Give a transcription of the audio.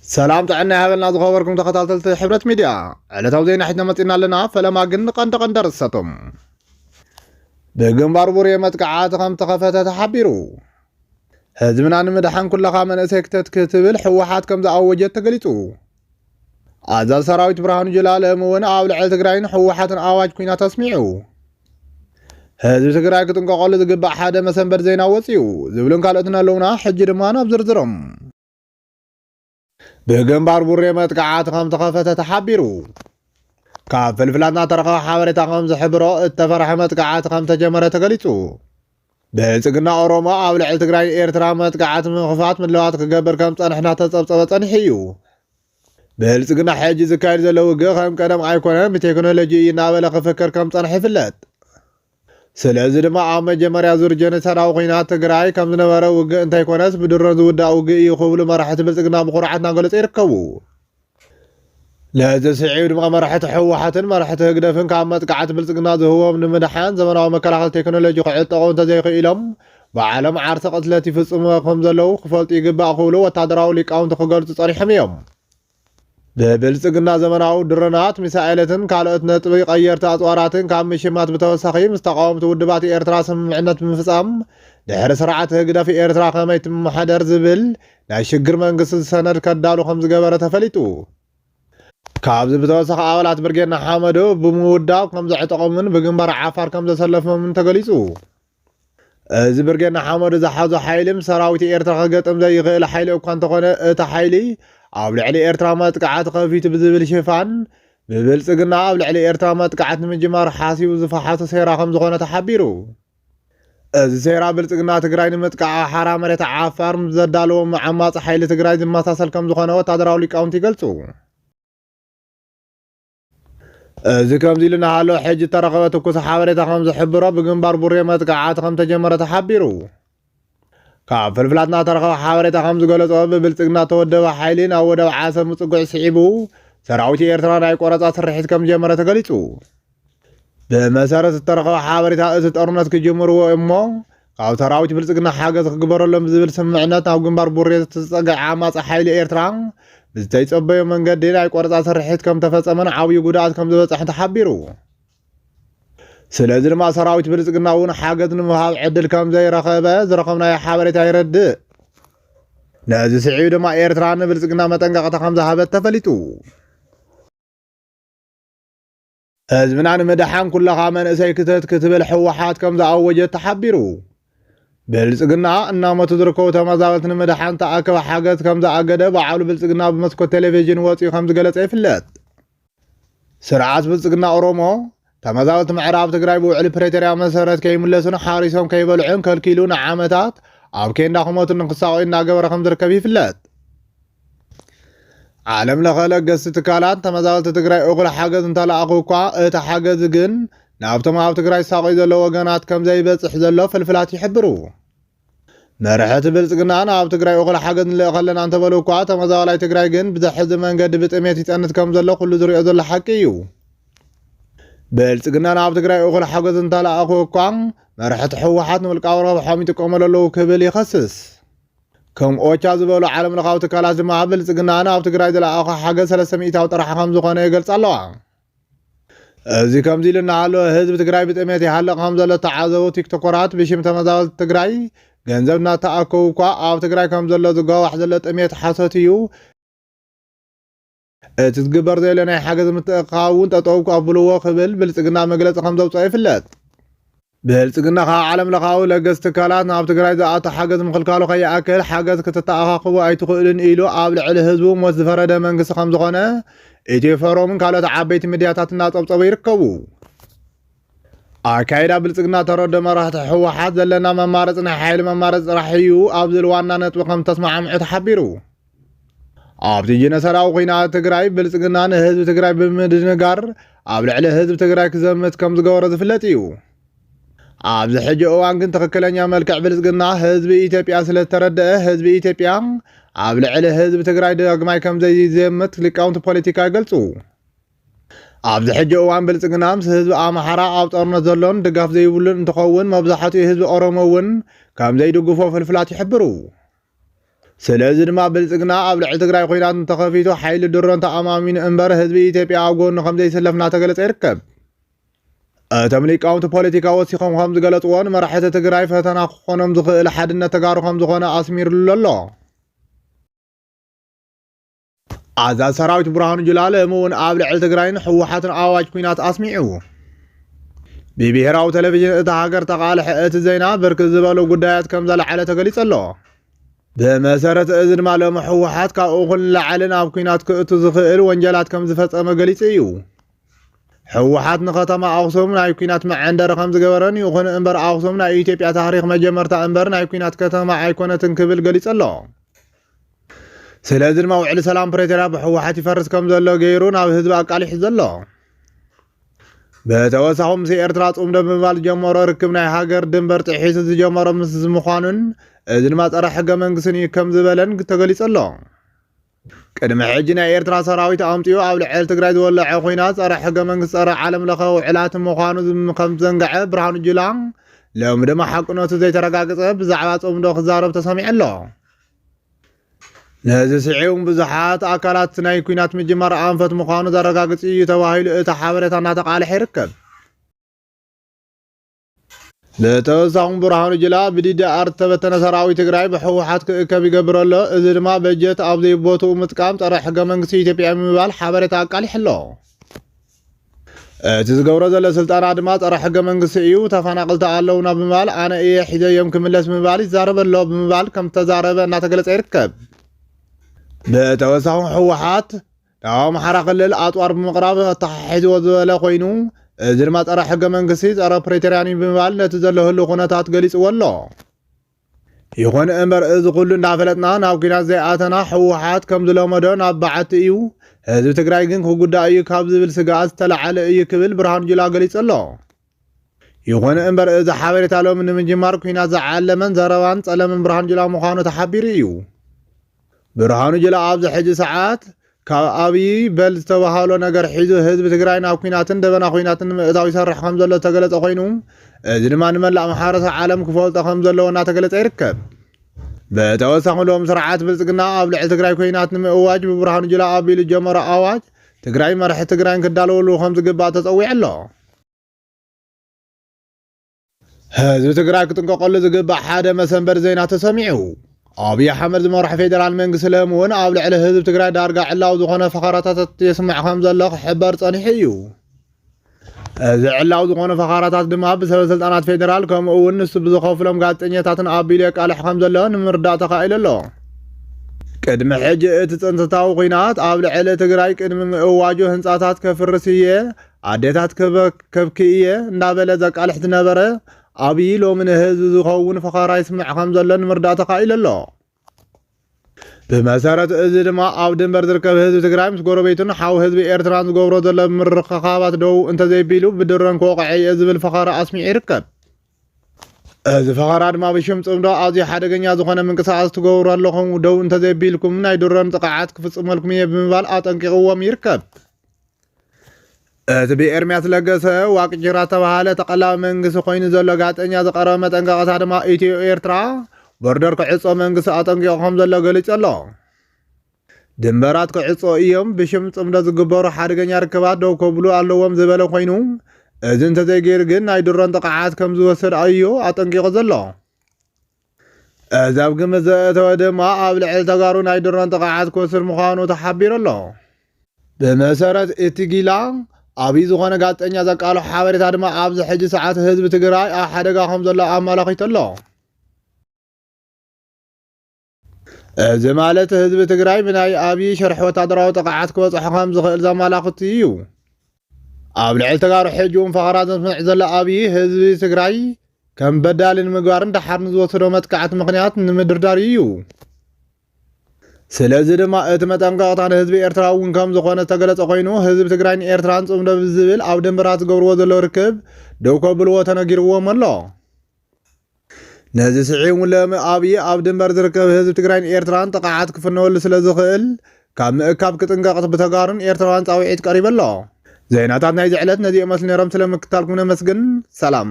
ሰላም ጥዕና ይሃበልና ዝኸበርኩም ተኸታተልቲ ሕብረት ሚድያ ዕለታዊ ዜና ሒዝና መፂና ኣለና። ፈለማ ግን ንቀንዲ ቀንዲ ኣርእስታቶም ብግንባር ቡሬ መጥቃዕቲ ከም ተኸፈተ ተሓቢሩ። ህዝብና ንምድሓን ኩለኻ መንእሰይ ክተት ክትብል ሕወሓት ከም ዝኣወጀት ተገሊጹ። ኣዛዚ ሰራዊት ብርሃኑ ጁላ ሎሚ እውን ኣብ ልዕሊ ትግራይን ሕወሓትን ኣዋጅ ኩናት ኣስሚዑ። ህዝቢ ትግራይ ክጥንቀቐሉ ዝግባእ ሓደ መሰንበት ዜና ወፂኡ ዝብሉን ካልኦትን ኣለውና። ሕጂ ድማ ናብ ዝርዝሮም ብግንባር ቡሬ መጥቃዕቲ ከም ተኸፈተ ተሓቢሩ። ካብ ፍልፍላትና ተረኸበ ሓበሬታ ከም ዝሕብሮ እተፈርሐ መጥቃዕቲ ከም ተጀመረ ተገሊጹ። ብልጽግና ኦሮሞ ኣብ ልዕሊ ትግራይ ኤርትራ መጥቃዕቲ ምኽፋት ምድለዋት ክገብር ከም ጸንሕና ተጸብጸበ ጸኒሑ እዩ። ብልጽግና ሕጂ ዝካየድ ዘሎ ውግእ ከም ቀደም ኣይኮነን ብቴክኖሎጂ እዩ እናበለ ክፍክር ከም ጸንሐ ይፍለጥ። ስለዚ ድማ ኣብ መጀመርያ ዙር ጀኖሳዳዊ ኹናት ትግራይ ከም ዝነበረ ውግእ እንተይኮነስ ብድሮን ዝውዳእ ውግእ እዩ ክብሉ መራሕቲ ብልፅግና ብኹርዓት እናገለፁ ይርከቡ። ነዚ ስዒብ ድማ መራሕቲ ህወሓትን መራሕቲ ህግደፍን ካብ መጥቃዕቲ ብልፅግና ዝህቦም ንምድሓን ዘመናዊ መከላኸሊ ቴክኖሎጂ ክዕጠቑ እንተዘይኽኢሎም ባዕሎም ዓርሰ ቅትለት ይፍፅሙ ከምዘለዉ ክፈልጡ ይግባእ ክብሉ ወታደራዊ ሊቃውንቲ ክገልፁ ፀኒሖም እዮም። ብብልፅግና ዘመናዊ ድሮናት፣ ሚሳኤለትን ካልኦት ነጥቢ ቀየርቲ ኣፅዋራትን ካብ ምሽማት ብተወሳኺ ምስ ተቓወምቲ ውድባት ኤርትራ ስምምዕነት ብምፍፃም ድሕሪ ስርዓት ህግደፍ ኤርትራ ከመይ ትመሓደር ዝብል ናይ ሽግር መንግስቲ ሰነድ ከዳሉ ከምዝገበረ ተፈሊጡ። ካብዚ ብተወሳኺ ኣባላት ብርጌድ ንሓመዱ ብምውዳብ ከምዘዕጠቖምን ብግንባር ዓፋር ከምዘሰለፎምን ተገሊፁ። እዚ ብርጌድ ንሓመዱ ዝሓዞ ሓይሊ ምስ ሰራዊት ኤርትራ ክገጥም ዘይኽእል ሓይሊ እኳ እንተኾነ እቲ ሓይሊ ኣብ ልዕሊ ኤርትራ መጥቃዕቲ ከፊቱ ብዝብል ሽፋን ብብልጽግና ኣብ ልዕሊ ኤርትራ መጥቃዕት ንምጅማር ሓሲቡ ዝፈሓሶ ሴራ ከምዝኾነ ተሓቢሩ። እዚ ሴራ ብልጽግና ትግራይ ንምጥቃዕ ኣብ ሓራ መሬት ዓፋር ምስ ዘዳለዎ ዓማጺ ሓይሊ ትግራይ ዝመሳሰል ከምዝኾነ ወታደራዊ ሊቃውንቲ ይገልጹ። እዚ ከምዚ ኢሉ እናሃለወ ሕጂ እተረኸበ ትኩስ ሓበሬታ ከም ዝሕብሮ ብግንባር ቡሬ መጥቃዕቲ ከም ተጀመረ ተሓቢሩ። ካብ ፍልፍላትና እተረኸበ ሓበሬታ ከም ዝገለጾ ብብልጽግና እተወደበ ሓይሊ ናብ ወደብ ዓሰብ ምጽጉዕ ስዒቡ ሰራዊት ኤርትራ ናይ ቆረጻ ስርሒት ከም ዝጀመረ ተገሊጹ። ብመሰረት እተረኸበ ሓበሬታ እቲ ጦርነት ክጅምርዎ እሞ ካብ ሰራዊት ብልፅግና ሓገዝ ክግበረሎም ብዝብል ስምምዕነት ናብ ግንባር ቡሬ ዝተፀግዐ ዓማፂ ሓይሊ ኤርትራ ብዝተይፀበዮ መንገዲ ናይ ቆረፃ ስርሒት ከምተፈፀመን ዓብዩ ጉድኣት ከምዝበፀሐን ተሓቢሩ። ስለዚ ድማ ሰራዊት ብልፅግና እውን ሓገዝ ንምሃብ ዕድል ከምዘይረኸበ ዝረኸብናዮ ሓበሬታ የረድእ። ነዚ ስዒቡ ድማ ኤርትራ ንብልፅግና መጠንቀቕታ ከምዝሃበት ተፈሊጡ። ህዝብና ንምድሓን ኩለኻ መንእሰይ ክተት ክትብል ሕወሓት ከም ዝኣወጀት ተሓቢሩ። ብልፅግና እናሞቱ ዝርከቡ ተመዛበልቲ ንምድሓን ተኣከበ ሓገዝ ከም ዝኣገደ በዓሉ ብልፅግና ብመስኮት ቴሌቪዥን ወፂኡ ከም ዝገለፀ ይፍለጥ። ስርዓት ብልፅግና ኦሮሞ ተመዛበልቲ ምዕራብ ትግራይ ብውዕሊ ፕሬቶርያ መሰረት ከይምለሱን ሓሪሶም ከይበልዑን ከልኪሉ ንዓመታት ኣብ ኬንዳ ክሞቱን ንክሳቐዩ እናገበረ ከም ዝርከብ ይፍለጥ። ዓለም ለኸ ለገስቲ ትካላት ተመዛበልቲ ትግራይ እኹል ሓገዝ እንተለኣኹ እኳ እቲ ሓገዝ ግን ናብቶም ኣብ ትግራይ ሳቆይ ዘለዎ ወገናት ከም ዘይበፅሕ ዘሎ ፍልፍላት ይሕብሩ። መርሕቲ ብልፅግና ናብ ትግራይ እኹል ሓገዝ ንልእኸ ኣለና እንተበሉ እኳ ተመዛባላይ ትግራይ ግን ብዘሕዚ መንገዲ ብጥሜት ይፀንት ከም ዘሎ ኩሉ ዝሪኦ ዘሎ ሓቂ እዩ። ብልፅግና ናብ ትግራይ እኹል ሓገዝ እንተለኣኹ እኳ መርሕቲ ህወሓት ንውልቃዊ ረብሖም ይጥቀመሉ ኣለዉ ክብል ይኸስስ። ከም ኦቻ ዝበሉ ዓለም ለኻዊ ትካላት ድማ ኣብ ብልፅግና ናብ ትግራይ ዝለኣኾ ሓገዝ ሰለስተ ሚኢታዊ ጥራሕ ከምዝኾነ ይገልፃ ኣለዋ። እዚ ከምዚ ኢሉ እናሃለወ ህዝቢ ትግራይ ብጥሜት ይሃልቕ ከምዘሎ ዝተዓዘቡ ቲክቶኮራት ብሽም ተመዛበልቲ ትግራይ ገንዘብ እናተኣከቡ እኳ ኣብ ትግራይ ከምዘሎ ዝጓዋሕ ዘሎ ጥሜት ሓሶት እዩ እቲ ዝግበር ዘሎ ናይ ሓገዝ ምትእኽኻብ እውን ጠጠው ኣብሉዎ ክብል ብልፅግና መግለፂ ከምዘውፀኦ ይፍለጥ። ብልፅግና ካብ ዓለም ለኻዊ ለገስቲ ትካላት ናብ ትግራይ ዝኣቱ ሓገዝ ምኽልካሉ ከይኣክል ሓገዝ ክትተኣኻኽቡ ኣይትኽእሉን ኢሉ ኣብ ልዕሊ ህዝቡ ሞት ዝፈረደ መንግስቲ ከምዝኾነ ኢትዮ ፎረምን ካልኦት ዓበይቲ ሚድያታት እናፀብፀቡ ይርከቡ። ኣካይዳ ብልፅግና ተረዶ መራሕቲ ህወሓት ዘለና መማረፂ ናይ ሓይሊ መማረፂ ጥራሕ እዩ ኣብ ዝብል ዋና ነጥቢ ከምዝተስማዕምዑ ተሓቢሩ። ኣብቲ ጀነሰራዊ ኩናት ትግራይ ብልፅግና ንህዝቢ ትግራይ ብምድንጋር ኣብ ልዕሊ ህዝቢ ትግራይ ክዘምት ከም ዝገበሮ ዝፍለጥ እዩ። ኣብዚ ሕጂ እዋን ግን ትኽክለኛ መልክዕ ብልፅግና ህዝቢ ኢትዮጵያ ስለዝተረደአ ህዝቢ ኢትዮጵያ ኣብ ልዕሊ ህዝቢ ትግራይ ዳግማይ ከም ዘይዘምት ሊቃውንቲ ፖለቲካ ይገልፁ። ኣብዚ ሕጂ እዋን ብልፅግና ምስ ህዝቢ ኣምሓራ ኣብ ጦርነት ዘሎን ድጋፍ ዘይብሉን እንትኸውን መብዛሕትኡ ህዝቢ ኦሮሞ እውን ከም ዘይድግፎ ፍልፍላት ይሕብሩ። ስለዚ ድማ ብልፅግና ኣብ ልዕሊ ትግራይ ኹናት እንተኸፊቱ ሓይሊ ድሮን ተኣማሚኑ እምበር ህዝቢ ኢትዮጵያ ኣብ ጎኑ ከምዘይስለፍ እናተገለፀ ይርከብ። እቶም ሊቃውንቲ ፖለቲካ ወሲኾም ከም ዝገለፅዎ ንመራሕቲ ትግራይ ፈተና ክኾኖም ዝኽእል ሓድነት ተጋሩ ከም ዝኾነ ኣስሚርሉ ኣሎ። ኣዛዚ ሰራዊት ብርሃኑ ጁላ ሎሚ እውን ኣብ ልዕሊ ትግራይን ህወሓትን ኣዋጅ ኩናት ኣስሚዑ። ብብሄራዊ ቴሌቪዥን እታ ሃገር ተቃልሐ እቲ ዜና ብርክት ዝበሉ ጉዳያት ከም ዘለዓለ ተገሊጹ ኣሎ። ብመሰረት እዚ ድማ ሎሚ ህወሓት ካብ እኹል ንላዕሊ ናብ ኩናት ክእቱ ዝኽእል ወንጀላት ከም ዝፈጸመ ገሊጹ እዩ። ህወሓት ንከተማ ኣክሱም ናይ ኩናት መዐንደሪ ከም ዝገበረን ይኹን እምበር ኣክሱም ናይ ኢትዮጵያ ታሪክ መጀመርታ እምበር ናይ ኩናት ከተማ ኣይኮነትን ክብል ገሊጹ ኣሎ። ስለዚ ድማ ውዕሊ ሰላም ፕሬቶርያ ብሕወሓት ይፈርስ ከም ዘሎ ገይሩ ናብ ህዝቢ ኣቃሊሑ ዘሎ። ብተወሳኹ ምስ ኤርትራ ጽምዶ ብምባል ዝጀመሮ ርክብ ናይ ሃገር ድንበር ጥሒሱ ዝጀመሮ ምስ ዝምዃኑን እዚ ድማ ጸረ ሕገ መንግስትን እዩ ከም ዝበለን ተገሊጹ ኣሎ። ቅድሚ ሕጂ ናይ ኤርትራ ሰራዊት ኣምጺኡ ኣብ ልዕሊ ትግራይ ዝወለዐ ኹናት ጸረ ሕገ መንግስቲ ጸረ ዓለም ለኸ ውዕላት ምዃኑ ከም ዘንገዐ ብርሃኑ ጁላ ሎሚ ድማ ሓቅነቱ ዘይተረጋገጸ ብዛዕባ ጽምዶ ክዛረብ ተሰሚዑ ኣሎ። ነዚ ስዒቡ ብዙሓት ኣካላት ናይ ኩናት ምጅማር ኣንፈት ምዃኑ ዘረጋግፅ እዩ ተባሂሉ እቲ ሓበሬታ እናተቃልሐ ይርከብ። ብተወሳኹም ብርሃኑ ጅላ ብዲዲኣር ዝተበተነ ሰራዊት ትግራይ ብሕወሓት ክእከብ ይገብር ኣሎ እዚ ድማ በጀት ኣብ ዘይቦትኡ ምጥቃም ፀረ ሕገ መንግስቲ ኢትዮጵያ ምባል ሓበሬታ ኣቃሊሑ ኣሎ እቲ ዝገብሮ ዘሎ ስልጠና ድማ ፀረ ሕገ መንግስቲ እዩ፣ ተፈናቐልቲ ኣለውና ብምባል ኣነ እየ ሒዘዮም ክምለስ ብምባል ይዛረብ ኣሎ ብምባል ከም ዝተዛረበ እናተገለፀ ይርከብ። ብተወሳኺ ህወሓት ናብ ኣምሓራ ክልል ኣፅዋር ብምቕራብ ኣተሓሒዝዎ ዝበለ ኮይኑ እዚ ድማ ፀረ ሕገ መንግስቲ፣ ፀረ ፕሪቶርያን እዩ ብምባል ነቲ ዘሎ ህሉው ኩነታት ገሊፅዎ ኣሎ። ይኹን እምበር እዚ ኩሉ እንዳፈለጥና ናብ ኩናት ዘይኣተና ህወሓት ከምዝለመዶ ናብ በዓቲ እዩ፣ ህዝቢ ትግራይ ግን ክጉዳእ እዩ ካብ ዝብል ስግኣት ዝተለዓለ እዩ ክብል ብርሃኑ ጁላ ገሊፁ ኣሎ። ይኹን እምበር እዚ ሓበሬታ ሎሚ ንምጅማር ኩናት ዝዓለመን ዘረባን ፀለመን ብርሃኑ ጁላ ምዃኑ ተሓቢሩ እዩ። ብርሃኑ ጁላ ኣብዚ ሕጂ ሰዓት ካብ ኣብይ በል ዝተበሃሎ ነገር ሒዙ ህዝቢ ትግራይ ናብ ኩናትን ደበና ኩናትን ንምእታው ይሰርሕ ከምዘሎ ዝተገለፀ ኮይኑ እዚ ድማ ንመላእ ማሕበረሰብ ዓለም ክፈልጦ ከምዘለዎ እናተገለፀ ይርከብ። ብተወሳኺ ሎም ስርዓት ብልፅግና ኣብ ልዕሊ ትግራይ ኩናት ንምእዋጅ ብብርሃኑ ጁላ ኣቢሉ ዝጀመሮ ኣዋጅ ትግራይ መራሕቲ ትግራይን ክዳለወሉ ከምዝግባእ ተፀዊዑ ኣሎ። ህዝቢ ትግራይ ክጥንቀቀሉ ዝግባእ ሓደ መሰንበሪ ዜና ተሰሚዑ። ኣብይ ኣሕመድ ዝመርሖ ፌዴራል መንግስቲ ሎሚ እውን ኣብ ልዕሊ ህዝቢ ትግራይ ዳርጋ ዕላዊ ዝኾነ ፈኸራታት የስምዕ ከም ዘሎ ክሕበር ጸኒሑ እዩ። እዚ ዕላዊ ዝኾነ ፈኸራታት ድማ ብሰበ ስልጣናት ፌዴራል ከምኡ እውን ንሱ ብዝኸፍሎም ጋዜጠኛታትን ኣቢሉ የቃልሕ ከም ዘሎ ንምርዳእ ተኻኢሉ ኣሎ። ቅድሚ ሕጂ እቲ ጽንተታዊ ኲናት ኣብ ልዕሊ ትግራይ ቅድሚ ምእዋጁ ህንጻታት ከፍርስ እየ፣ ኣዴታት ከበክከብኪ እየ እንዳበለ ዘቃልሕ ዝነበረ ኣብዪ ሎሚ ንህዝቢ ዝኸውን ፈኸራ ይስምዕ ከም ዘሎ ንምርዳእ ተኻኢሉ ኣሎ። ብመሰረት እዚ ድማ ኣብ ድንበር ዝርከብ ህዝቢ ትግራይ ምስ ጎረቤቱን ሓው ህዝቢ ኤርትራን ዝገብሮ ዘሎ ምርኽኻባት ደው እንተዘይቢሉ ብድሮን ክወቕዐ እየ ዝብል ፈኸራ ኣስሚዑ ይርከብ። እዚ ፈኸራ ድማ ብሽም ጽምዶ ኣዝዩ ሓደገኛ ዝኾነ ምንቅስቓስ ትገብሩ ኣለኹም፣ ደው እንተዘይቢልኩም ናይ ድሮን ጥቕዓት ክፍጽመልኩም እየ ብምባል ኣጠንቂቕዎም ይርከብ። እቲ ብኤርሚያስ ለገሰ ዋቅጅራ ዝተባሃለ ተቐላቢ መንግስቲ ኮይኑ ዘሎ ጋዜጠኛ ዝቐረበ መጠንቀቕታ ድማ ኢትዮ ኤርትራ ቦርደር ክዕጾ መንግስቲ ኣጠንቂቑ ከም ዘሎ ገሊጹ ኣሎ። ድንበራት ክዕጾ እዮም፣ ብሽም ጽምዶ ዝግበሩ ሓደገኛ ርክባት ደው ከብሉ ኣለዎም ዝበለ ኮይኑ እዚ እንተዘይገይሩ ግን ናይ ድሮን ጥቕዓት ከም ዝወስድ ኣዩ ኣጠንቂቑ ዘሎ። እዚ ኣብ ግምት ዘእተወ ድማ ኣብ ልዕሊ ተጋሩ ናይ ድሮን ጥቕዓት ክወስድ ምዃኑ ተሓቢሩ ኣሎ። ብመሰረት እቲ ጊላ ኣብይ ዝኾነ ጋዜጠኛ ዘቃልሖ ሓበሬታ ድማ ኣብዚ ሕጂ ሰዓት ህዝቢ ትግራይ ኣብ ሓደጋ ከም ዘሎ ኣመላኺቱ ኣሎ። እዚ ማለት ህዝቢ ትግራይ ብናይ ኣብዪ ሽርሒ ወታደራዊ ጥቕዓት ክበፅሖ ከም ዝኽእል ዘመላኽት እዩ። ኣብ ልዕሊ ተጋሩ ሕጂ እውን ፈኸራ ዘስምዕ ዘሎ ኣብዪ ህዝቢ ትግራይ ከም በዳሊ ንምግባርን ደሓር ንዝወሰዶ መጥቃዕቲ ምኽንያት ንምድርዳር እዩ። ስለዚ ድማ እቲ መጠንቀቕታ ንህዝቢ ኤርትራ እውን ከም ዝኾነ ዝተገለጸ ኮይኑ ህዝቢ ትግራይን ኤርትራን ጽምዶ ብዝብል ኣብ ደንበራት ዝገብርዎ ዘለዉ ርክብ ደው ከብልዎ ተነጊርዎም ኣሎ። ነዚ ስዒቡ ሎሚ ኣብይ ኣብ ድንበር ዝርከብ ህዝቢ ትግራይን ኤርትራን ጥቕዓት ክፍነወሉ ስለዝኽእል ካብ ምእካብ ክጥንቀቕ ብተጋሩን ኤርትራውያን ፃውዒት ቀሪቡ ኣሎ። ዜናታት ናይዚ ዕለት ነዚኦም መስሉ ነይሮም ስለምክትታልኩም ነመስግን ሰላም።